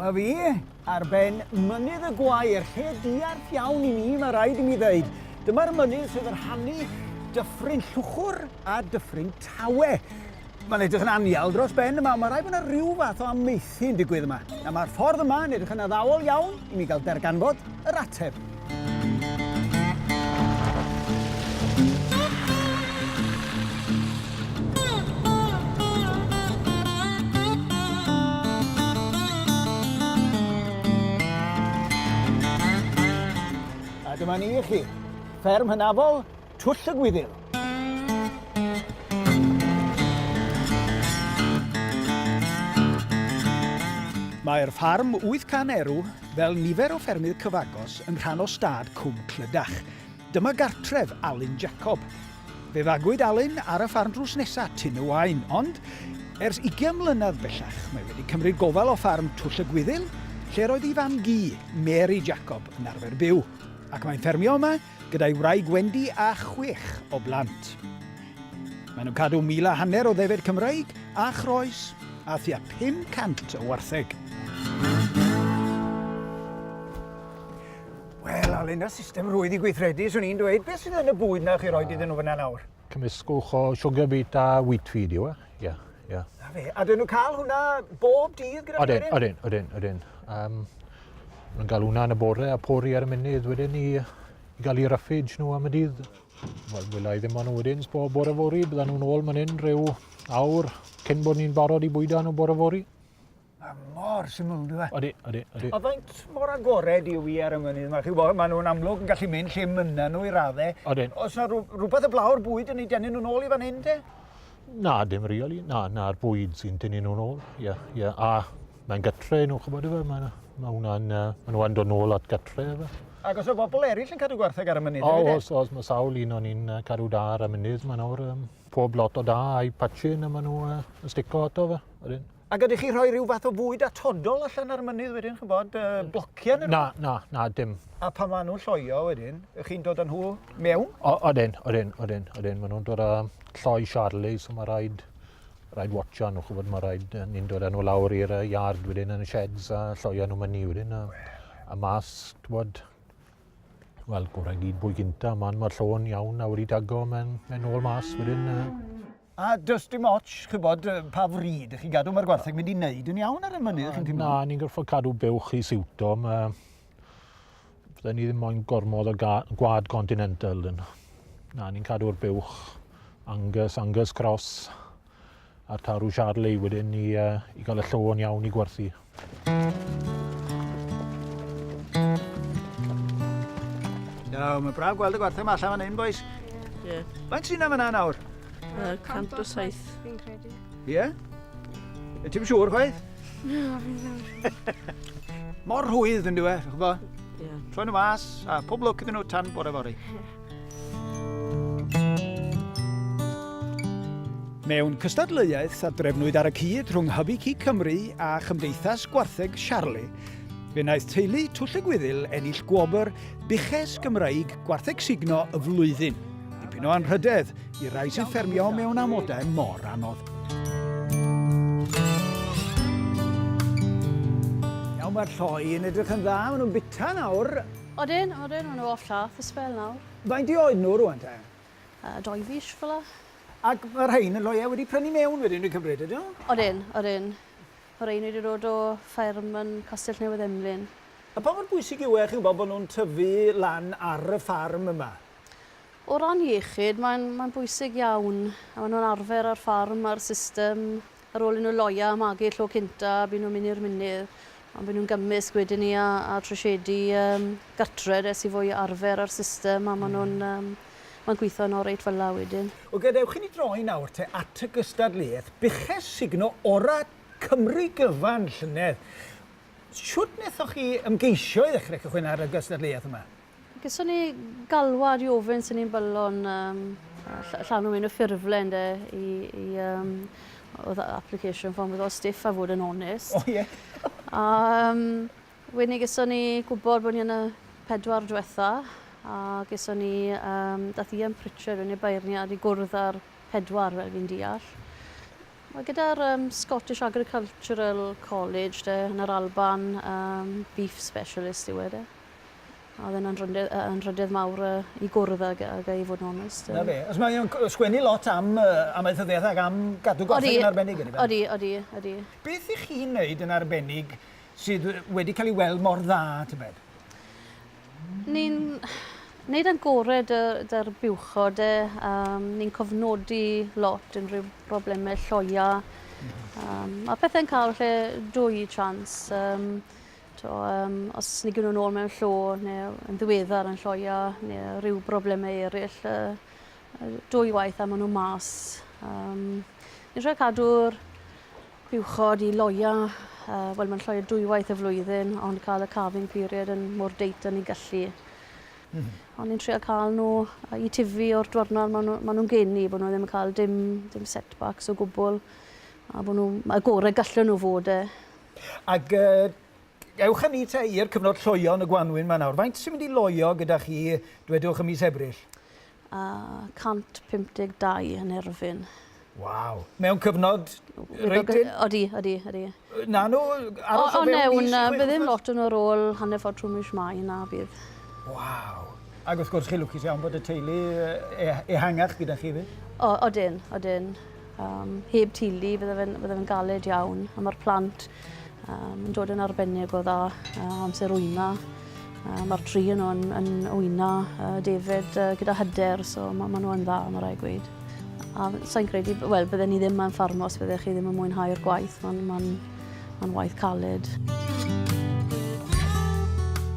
Dyma fi, ar ben mynydd y gwair, lle diarth iawn i mi, mae rhaid i mi ddeud. Dyma'r mynydd sydd yn rhannu dyffryn Llwchwr a dyffryn Tawe. Mae'n edrych yn anial dros ben yma, ond mae rhaid bod yna rhyw fath o amaethu yn digwydd yma. Na, mae'r ffordd yma yn edrych yn addawol iawn i mi gael darganfod yr ateb. A dyma ni i chi. Fferm hynafol Twll y Gwyddil! Mae'r ffarm 800 erw, fel nifer o ffermydd cyfagos, yn rhan o stad Cwm Clydach. Dyma gartref Alun Jacob. Fe fagwyd Alun ar y ffarm drws nesa, Tyn y Waun, ond ers 20 mlynedd bellach mae wedi cymryd gofal o ffarm Twll y Gwyddil, lle roedd ei fam-gu, Mary Jacob, yn arfer byw. Ac mae'n ffermio yma gyda'i wraig Wendy a chwech o blant. Maen nhw'n cadw mil a hanner o ddefaid Cymraeg a chroes a thua 500 o wartheg. Wel, Alun, y system rwydd i gweithredu, swn i'n dweud, beth sydd yn y bwyd na chi roi iddyn nhw fyna nawr? Cymysgwch o sugar beet a wheat feed yw e. Ie, yeah, ie. Yeah. Na fe. A dyn nhw'n cael hwnna bob dydd gyda Odyn, wedyn? Odyn, odyn, odyn. Um, nhw'n cael hwnna yn y bore a pori ar y munud wedyn i, i gael i raffage nhw am y dydd. Wel, wyla i ddim ond wedyn, bob bore fori, bydda nhw'n ôl man hyn rhyw awr cyn bod ni'n barod i bwyda nhw bore fori. Mae mor syml, yn dweud. Odi, odi, odi. A faint mor agored yw i ar y mynydd? Mae chi bod, maen nhw'n amlwg yn gallu mynd lle mynna nhw i raddau. Odyn. Os yna rhywbeth y blaw'r bwyd yn ei denu nhw'n ôl i fan hyn, te? Na, dim reoli. Na, na'r bwyd sy'n denu nhw'n ôl. Ie, yeah, ie. Yeah. A mae'n gytre nhw, chybod efe. Mae yna. Mae hwnna'n, uh, mae nhw'n dod nôl at gytre efe. Ac os o bobl eraill yn cadw gwartheg ar y mynydd? O, e? os, os mae sawl un o'n i'n cadw da ar y mynydd, mae nawr um, pob lot o da a'i patchin a maen nhw uh, yn stico ato fe. Odyn. A gydych chi rhoi rhyw fath o fwyd atodol allan ar y mynydd wedyn, chi'n bod, uh, blociau neu Na, na, na, dim. A pan maen nhw'n lloio wedyn, ych chi'n dod â nhw mewn? O, odyn, odyn, odyn, odyn. Maen nhw'n dod â lloi Charlie, so mae rhaid, rhaid watcha nhw, chwbod, mae rhaid, ni'n dod â nhw lawr i'r yard wedyn yn y sheds a lloio nhw mynu wedyn. A, a mas, chwbod, wel, gorau gyd bwy gynta, maen mae'r llon iawn a wedi dago, mae'n mae ôl mas wedyn. Uh, A does dim ots, chybod, pa fryd ych chi'n gadw, mae'r gwartheg mynd i wneud yn iawn ar y mynydd, chi'n teimlo? Na, ni'n gorfod cadw buwch i siwto. Mae... Fydden ni ddim moyn gormod o gwad continental. Na, ni'n cadw'r buwch Angus, Angus Cross a'r tarw Charley wedyn i, uh, i gael y llon iawn i gwerthu. Iawn, mae'n braf gweld y gwartheg yma allan fan hyn, boys. Ie. Yeah. Faint sy'n am yna nawr? Uh, 107. Fi'n credu. Ie? Yeah? Y ti'n siŵr, chwaith? No, fi'n siŵr. Mor rhwydd yn diwe, chi'n gwybod? Ie. Yeah. Troen y mas, a pob lwc iddyn nhw tan bore fori. Mewn cystadleuaeth a drefnwyd ar y cyd rhwng Hybu Cig Cymru a Chymdeithas Gwartheg Siarli, fe wnaeth teulu Twll y Gwyddil ennill gwobr Buches Gymraeg Gwartheg Sugno y Flwyddyn. Dipyn o anrhydedd i rai sy'n ffermio mewn amodau mor anodd. Iawn, mae'r lloi yn edrych yn dda, maen nhw'n bita nawr. Odyn, odyn, maen nhw off lath y sbel nawr. Faint i oed nhw rwan te? Uh, doi fis fel la. Ac mae rhain yn loia wedi prynu mewn wedyn dwi'n cymryd, ydyn nhw? Odyn, odyn. Mae rhain wedi dod o ffairm yn Castell Newydd Emlyn. A pa mor bwysig yw e, chi'n gwybod, bod nhw'n tyfu lan ar y ffarm yma? O ran iechyd, mae'n mae bwysig iawn. A maen nhw'n arfer ar ffarm, ar system Ar ôl i nhw loio a magu'r tro cynta, byn nhw'n mynd i'r mynydd, ond byn nhw'n gymysg wedyn ni a a trwsiedu yym gartred es i fwy o arfer â'r system a ma' nhw'n yym ma'n gwitho'n oreit fel 'a wedyn. O gadewch i ni droi nawr te at y gystadleuaeth buches sugno ora Cymru gyfan llynedd. Shwt nethoch chi ymgeisio i ddechre cychwyn ar y gystadleuaeth yma? Geson ni galwad i ofyn sy'n ni'n byllon um, llanw un o ffurflen de, i, i um, oedd application form oedd o stiff a fod yn onest. O oh, ie. Yeah. um, wedyn ni geson ni gwybod bod ni yn y pedwar diwetha a geson ni, um, dath Ian Pritchard yn ei beirniad i gwrdd â'r pedwar fel fi'n deall. Mae gyda'r um, Scottish Agricultural College de, yn yr Alban, um, beef specialist yw e de. A oedd e'n anrhydedd mawr i gwrdd ag e i fod yn onest. Na fe. Os mae o'n sgwennu lot am amaethyddiaeth ac am gadw goffi yn arbennig ydy fe? Odi, odi, odi. Beth i chi'n neud yn arbennig sydd wedi cael ei weld mor dda, tybed? Ni'n neud yn gore dy'r buwchod e. Um, ni'n cofnodi lot unrhyw broblemau lloia. Um, a pethau'n cael lle dwy chance. Um, To, um, os ni gynnu nôl mewn llo, neu yn ddiweddar yn lloia, neu rhyw broblemau eraill, uh, dwy waith a maen nhw mas. Um, ni'n rhaid cadw'r buwchod i loia, uh, wel mae'n lloia dwy waith y flwyddyn, ond cael y carving period yn mor deit yn ei gallu. Mm. Ond ni'n trio cael nhw i tifu o'r dwrnod maen nhw, ma nhw'n geni, bod nhw ddim yn cael dim, dim setbacks o gwbl. A bod nhw, mae gorau gallu nhw fod e. Ac yy ewch â ni te i'r cyfnod lloio yn y gwanwyn 'ma nawr. Faint sy'n mynd i loio gyda chi, dwedwch, ym mis Ebrill? A 152 yn Erfyn. Waw. Mewn cyfnod reit hŷn? Odi, odi, odi. Na nhw, aros o fewn mis i chwech wythnos? Ond mewn, bydd ddim lot yn yr ôl hanner ffordd trwy mis Mai, na bydd. Waw. Ac wrth gwrs, chi'n lwcus iawn bod y teulu e- ehangach gyda chi 'fyd. O, odyn, odyn. Um, heb tili, fydde fe'n fydde fe galed iawn, a mae'r plant um, yn dod yn arbennig o dda uh, amser wyna. Uh, mae'r tri yn nhw'n yn wyna uh, David uh, gyda hyder, so mae ma nhw'n dda, mae rai gweud. A sa'n credu, wel, bydde ni ddim yn ffarmo os bydde chi ddim yn mwynhau'r gwaith, mae'n ma ma waith caled.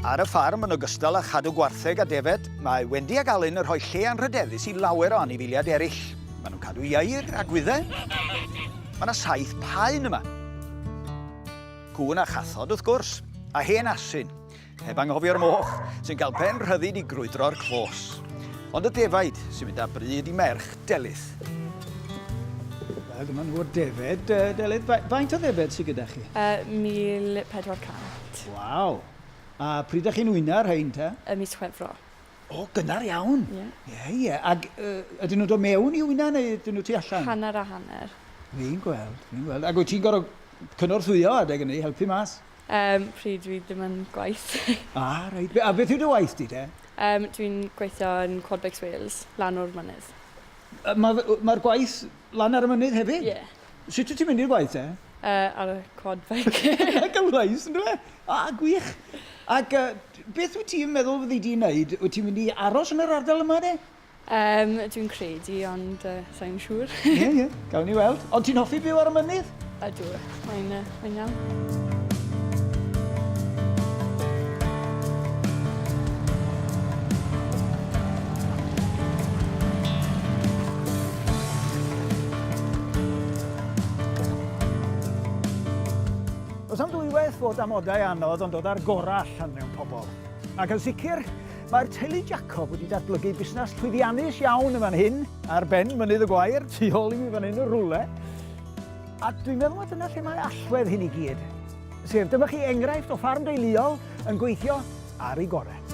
Ar y ffarm, yn ogystal â chadw gwartheg a defed, mae Wendy ac Alun yn rhoi lle anrhydeddus i lawer o anifiliad eraill. Maen nhw'n cadw ieir a gwyddau. Mae yna saith paun yma. Cŵn a chathod, wrth gwrs, a hen asyn, heb anghofio'r moch, sy'n cael pen rhyddid i grwydro'r clos. Ond y defaid sy'n mynd â bryd i merch Delyth. Wel, dyma nhw o'r defaid. Delyth, faint o ddefaid sy'n gyda chi? Uh, 1400. Waw. A pryd ydych chi'n wyna rhain, ta? Y mis Chwefro. O, gynnar iawn. Ie. Ie, ie. Ac yy ydyn nhw'n dod mewn i wyna neu ydyn nhw tu allan? Hanner a hanner. Fi'n gweld, fi'n gweld. Ac wyt ti'n gorfod cynorthwyo adeg hynny, helpu mas? Um, pryd dwi ddim yn gwaith. ah, reit. A beth yw dy waith di te? Um, dwi'n gweithio yn Quadbikes Wales, lan o'r mynydd. Mae'r ma gwaith Lan ar y mynydd hefyd? Ie. Sut wyt ti'n mynd i'r gwaith te? Yy, ar y quad bike. Gan lais, yn dyfe? A, gwych. Ac uh, beth wyt ti'n meddwl fyddi di'n neud? Wyt ti'n mynd i aros yn yr ardal yma de? Um, dwi'n credu, ond uh, sa'n siŵr. Ie, ie, gawn ni weld. Ond ti'n hoffi byw ar y mynydd? Ydw, mae'n uh, Mae'n iawn. Os am ddwywaith fod amodau anodd ond dod ar gorau allan mewn pobl. Ac yn sicr, mae'r teulu Jacob wedi datblygu busnes llwyddiannus iawn yn fan hyn, ar ben mynydd y gwair, tu ôl i mi fan hyn y rwle. A dwi'n meddwl bod dyna lle mae allwedd hyn i gyd. Sef, dyma chi enghraifft o ffarm deuluol yn gweithio ar ei gorau.